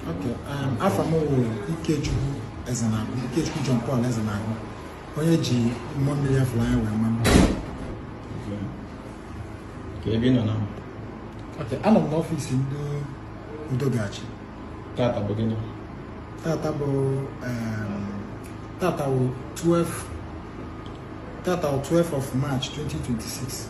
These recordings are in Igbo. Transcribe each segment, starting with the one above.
Okay, um, afa m wụ Ikechukwu Ezenagụ, Ikechukwu John Paul Ezenagụ, onye e ji mmụọ mmiri a fụrụ anya wee ma ama. Kee ebe ị nọ na Okay, anọ m n'ọfịs ndị Udogachi. tata bụ gịnị? Tata bụ um, tata wụ 12 tata wụ 12 of March 2026.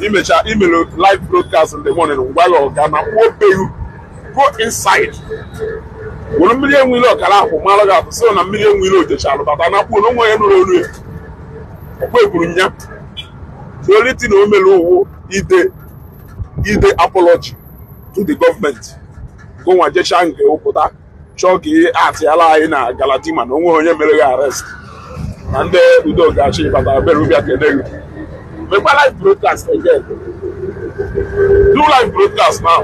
i mecha i mere live broadcast in the morning ngwa ya ọga na kpụobeghị go inside were mmiri enwe ilo ọkara akwụ mara gị atụ sịrị na mmiri enwe ilo o jechalụ bata na kpuo na onwe ya nụrụ olu ya ọ kwa e kwuru na the only thing o mere ọ wụ ide ide apology to the government gị nwa jechaa nke ị pụta chọọ ka ihe atịala anyị na Galadima na o nweghị onye mere gị arrest na ndị udo ga-achị bata bere ụbịa kene gị mekwa live broadcast again do live broadcast now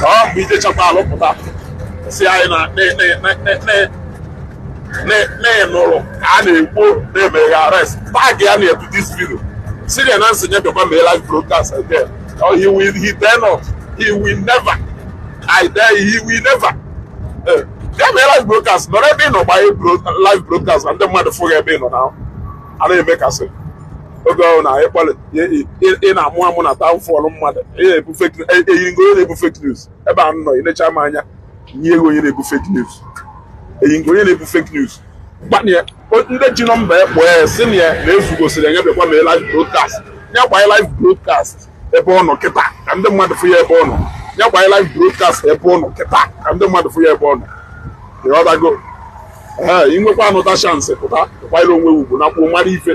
ọ bụ i jechakwaalụ pụta sị anyị na ị nụrụ ka a na-ekwu na e mere gị arrest tag ya na-ebu this video sị ya na m sị ya bịakwa mee live broadcast again he will he dare not he will never I dare you, he will never. Eh, ya mee live broadcast nọrọ ebe ị nọ gbanye live broadcast ka ndị mmadụ fụ gị ebe ị nọ na a na-eme ka a sị oge ọhụrụ na ịkpọlị ị na-amụ amụ na taụfọlụ mmadụ eyiri ngo onye na-ebu fake news ebe a nọ ị necha m anya nye ego onye na-ebu fake news eyi ngo onye na-ebu fake news gbanye ndị ji nọmba ya kpọọ ya sị ya na Ezuga sịrị ya ya bịakwa mee live broadcast ya gbanye live broadcast ebe ọ nọ kịta ka ndị mmadụ fụ ya ebe ọ nọ ya gba live broadcast ebe ọ nọ kịta ka ndị mmadụ fụ ya ebe ọ nọ ịghọtago ee i nwekwa another chance pụta ị kwanyere onwe ugwu na kwuo mara ife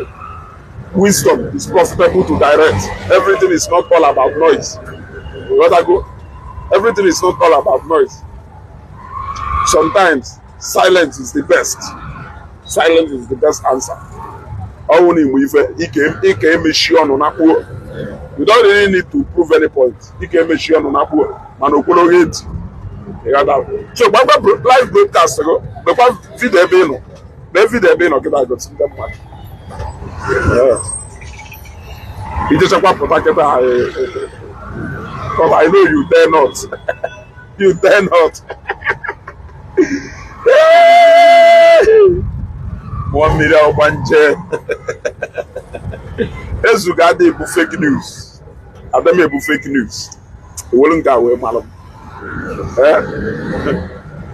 wisdom is profitable to direct everything is not all about noise ịghọtago everything is not all about noise sometimes silence is the best silence is the best answer ọnwụ na igbo ife ị ka-emechi ọnụ na kpuo you don't really need to prove any point ị ka-emechi ọnụ na kpuo mana okwere oge ntị so gbagba live broadcast gị mekwa vidio ebe ị nọ mee vidio ebe ị nọ gị na-agosi ndị mmadụ i jechakwa pụta kịta I know you dare not you dare not. Mmụọ mmiri ọgbanje. Ezuga adị ebu fake news. Adị m ebu fake news. Ọ wụrọ nke a wee malụ m. Eh?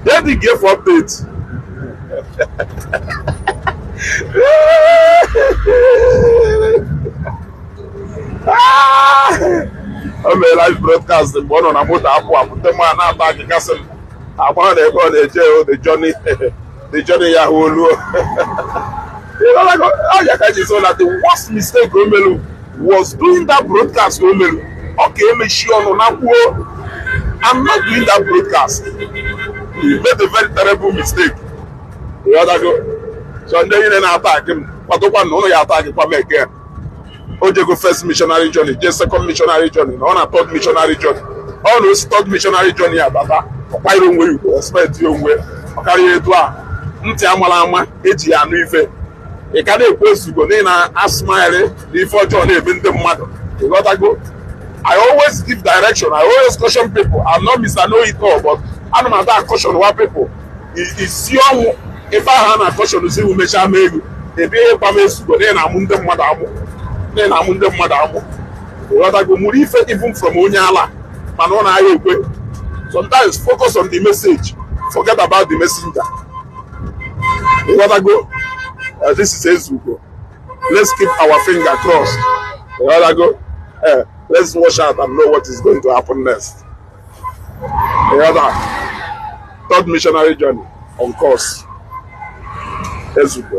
Then dey give update. Ah! o mere live broadcast mgbe ọ nọ na moto apụ apụ ndị mmadụ na-attackị ka sị m agbara na ebe ọ na-eje o the journey the journey ya hụ olu ọ ya ka m ji sị na the worst mistake o melu was doing that broadcast o melu ọ ka emechi ọnụ na kwuo I'm not doing that broadcast he made a very terrible mistake ị ghọtago so ndị niile na-attackị m kwadokwa na unu ya-attackịkwa m again o jego first missionary journey jee second missionary journey na ọ na third missionary journey ọ na o si third missionary journey ya bata ọ kwanyere onwe ya ugwu respect ya onwe ọ karịa etu a ntị a mara ama e ji ya anụ ife ị ka na-ekwu Ezugo na ị na-asmile na ife ọjọọ na-eme ndị mmadụ ị ghọtago I always give direction I always caution people I'm not Mr. Know It All but ana m ada caution wa people isi ọnwụ ife ahụ a na-acautionụzi iwu mechaa ma elu ebe ihe gba m Ezugo na ị na-amụ ndị mmadụ amụ na ị na-amụ ndị mmadụ amụ ghọtago mụrụ ife even from onye ala mana ọ na-agha ekwe sometimes focus on the message forget about the messenger ghọtago uh, this is Ezugo let's keep our finger crossed ghọtago eh, let's watch out and know what is going to happen next ịghọta third missionary journey on course ezugbo